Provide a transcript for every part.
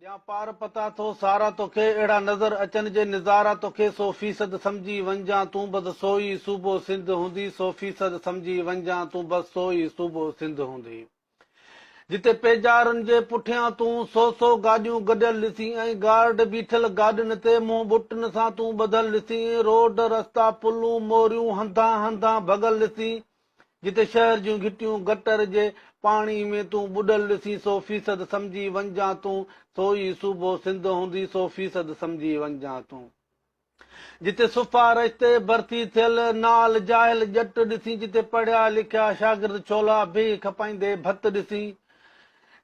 ڏيان پار پتا ٿو سارا توکي اهڙا نظر اچن جي نظارا توکي سو فيصد سمجهي ونجان تون بس سوئي صوبو سنڌ هوندي سو فيصد سمجهي ونجان تون بس سوئي صوبو سنڌ هوندي جتي پيجارن جي پٺيان تون سو سو گاڏيون گڏيل ڏسين ۽ گارڊ بيٺل گاڏين تي منهن ٻٽن سان تون ٻڌل ڏسين روڊ رستا پلون موريون هنڌان هنڌان ڀڳل ڏسين جتي شهر جون گهٽيون گٽر جي پاڻي ۾ تون ٻڏل ڏسين سو فيصد سمجهي وڃجان تون سو ئي صوبو سنڌ هوندي سو فيصد سمجهي وڃجان تون جتي صفا رشتي برسي ٿيل نال جاهل ڄٽ ڏسين جتي پڙهيا لکيا شاگرد ڇولا بيهي کپائيندي ڀت ڏسين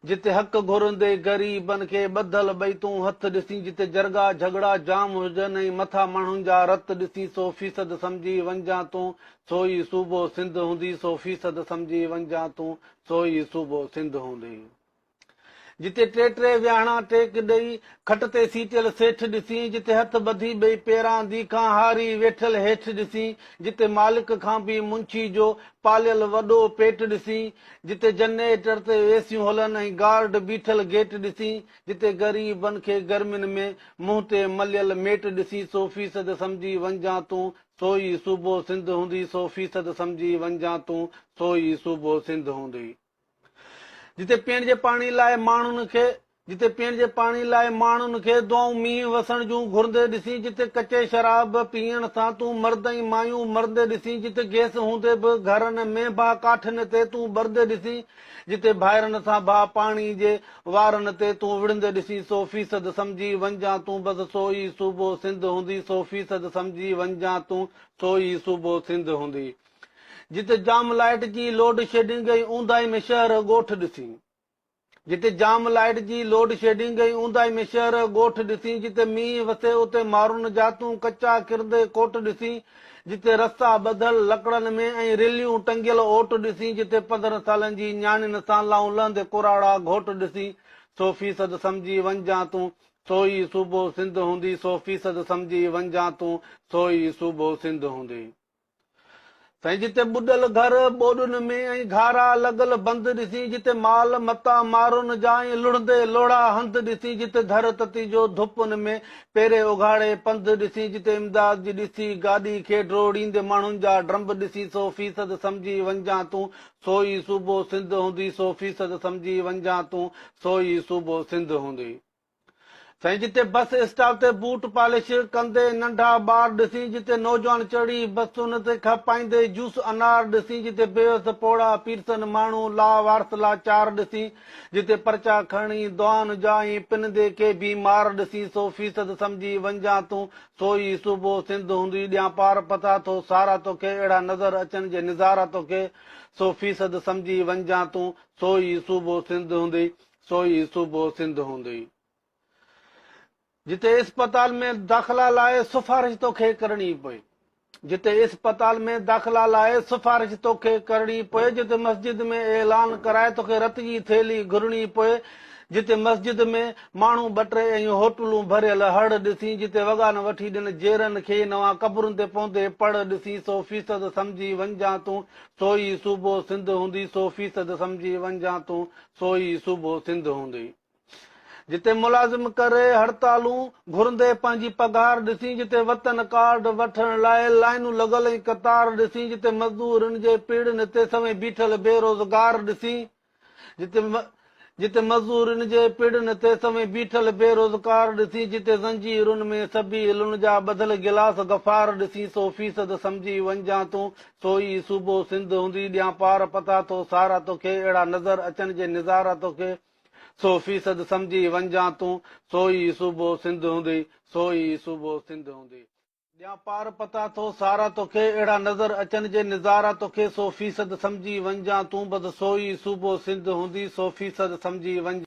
جتي حق گهرندي غريبن کي ٻڌل ٻئتون هٿ ڏسين، جتي جرڳا جهڳڙا جام هجن ۽ مٿا ماڻهن جا رت ڏسين سو فيصد سمجهي وڃجان تون سو ئي صوبو سنڌ هوندي سو فيصد سمجهي وڃجان تون سو ئي صوبو سنڌ هوندي جتي ٽي ٽي ويهاڻا ٽيڪ ڏئي کٽ تي سيٽيل سيٺ ڏسين جتي هٿ ٻڌي ٻئي پيراندي کان هاري ويٺل هيٺ ڏسين جتي مالڪ کان به منشي جو پاليل وڏو پيٽ ڏسين جتي جنريٽر تي اي سيون هلن ۽ گارڊ بيٺل گيٽ ڏسين، جتي غري بن کي گرمين ۾ منهن تي مليل ميٽ ڏسين سو فيصد سمجهي وڃجان تون سو ئي صوبو سنڌ هوندي سو فيصد سمجهي وڃجان تون سو ئي صوبو سنڌ هوندي جتي پيئڻ جي پاڻي لاء ماڻهن کي جتي پيئڻ جي پاڻي لاء ماڻهن کي دعائون مينهن وسڻ جون گهرندي ڏسين جتي ڪچي شراب پيئڻ سان تون مرد ۽ مايون مرندي ڏسين جتي گئس هوندي به گهرن ۾ باهه ڪاٺين تي تون ٻرندي ڏسين جتي ڀائرن سان باهه پاڻي جي وارن تي تون وڙهندي ڏسين سو فيصد سمجهي وڃجان تون بس سو ئي صوبو سنڌ هوندي سو فيصد سمجهي وڃجان تون سو ئي صوبو سنڌ هوندي جتي جام لائيٽ جي لوڊشيڊنگ ۽ اونداهي ۾ شهر ڳوٺ ڏسين. جتي جام لائيٽ جي لوڊ شيڊنگ ۽ اونداهي ۾ شهر ڳوٺ ڏسين جتي مينهن وسي اتي مارون جاتون ڪچا ڪرندي ڪوٽ ڏسين جتي رستا ٻڌل لڪڙن ۾ ۽ رليون ٽنگيل اوٽ ڏسين جتي پندرهن سالن جي نياڻين سان لائون لهندي ڪراڙا گهوٽ ڏسين سو فيصد سمجهي وڃجان تون سو ئي صوبو سنڌ هوندي سو فيصد سمجهي وڃجان تون سو ئي صوبو سنڌ هوندي. سائين جتي ٻڏل گهر، ٻوڏن ۾ ۽ گهارا لڳل بند ڏسين، جتي مال متا مارون جا ۽ لڙهندي لوڙها هنڌ ڏسين، جتي ڌر تتي جو ڌپن ۾ پيري اگهاڙي پنڌ ڏسين، جتي امداد جي ڏسي گاڏي کي ڊوڙيندي ماڻهن جا ڊرمب ڏسين سو فيصد سمجهي وڃجان تون سوئي صوبو سنڌ هوندي سو فيصد سمجهي وڃجان تون سوئي صوبو سنڌ هوندي. سائين جتي بس اسٽاپ تي بوٽ پالش ڪندي ننڍا ٻار ڏسين جتي نوجوان چڙهي بسن تي کپائيندي جوس انار ڏسين جتي بيوس پوڙها پيرسن ماڻهو لا وارث لا چار ڏسين جتي پرچا کڻي دعائن جا ائين پنندي ڪي بيمار ڏسين سو فيصد سمجهي وڃجان تون سو ئي صوبو سنڌ هوندي ڏيان پار پٿا ٿو سارا توکي اهڙا نظر اچن جي نظارا توکي سو فيصد سمجهي وڃجان تون سو ئي صوبو سنڌ هوندي سو ئي صوبو سنڌ هوندي جتي اسپتال ۾ داخلا لاء سفارش توکي ڪرڻي پئي جتي اسپتال ۾ داخلا لاء سفارش توکي ڪرڻي پئي جتي مسجد ۾ اعلان ڪرائي توکي رت جي ٿيلي گهرڻي پئي جتي مسجد ۾ ماڻهو ٻٽري ۽ هوٽلون ڀريل هڙ ڏسين جتي وڳا نه وٺي ڏن جيرن کي نوان قبرن تي پوندي پڙ ڏسين سو فيصد سمجهي وڃجان تون سو ئي صوبو سنڌ هوندي سو فيصد سمجهي وڃجان تون سو ئي صوبو سنڌ هوندي. جتي ملازم ڪري هڙتالون گهرندي پنهنجي پگهار ڏسين جتي وطن ڪارڊ وٺڻ لاء لائينون لڳل ۽ قطار ڏسين جتي مزدورن جي پيڙهن تي سوين بيٺل بي روزگار ڏسين جتي جتي مزدورن جي پيڙهن تي سوين بيٺل بي روزگار ڏسين جتي زنجيرن ۾ سبي علن جا ٻڌل گلاس غفار ڏسين سو فيصد سمجهي وڃجان تون سو ئي صوبو سنڌ هوندي ڏيان پار پتا ٿو سارا توکي اهڙا نظر اچن جي نظارا توکي سو فيصد سمجهي ونجان تون سو ئي صوبو سنڌ هوندي سو ئي صوبو سنڌ هوندي ڏيان پار پتا ٿو سارا توکي اهڙا نظر اچن جي نظارا توکي سو فيصد سمجهي ونجان تون بس سو ئي صوبو سنڌ هوندي سو فيصد سمجهي ونجان.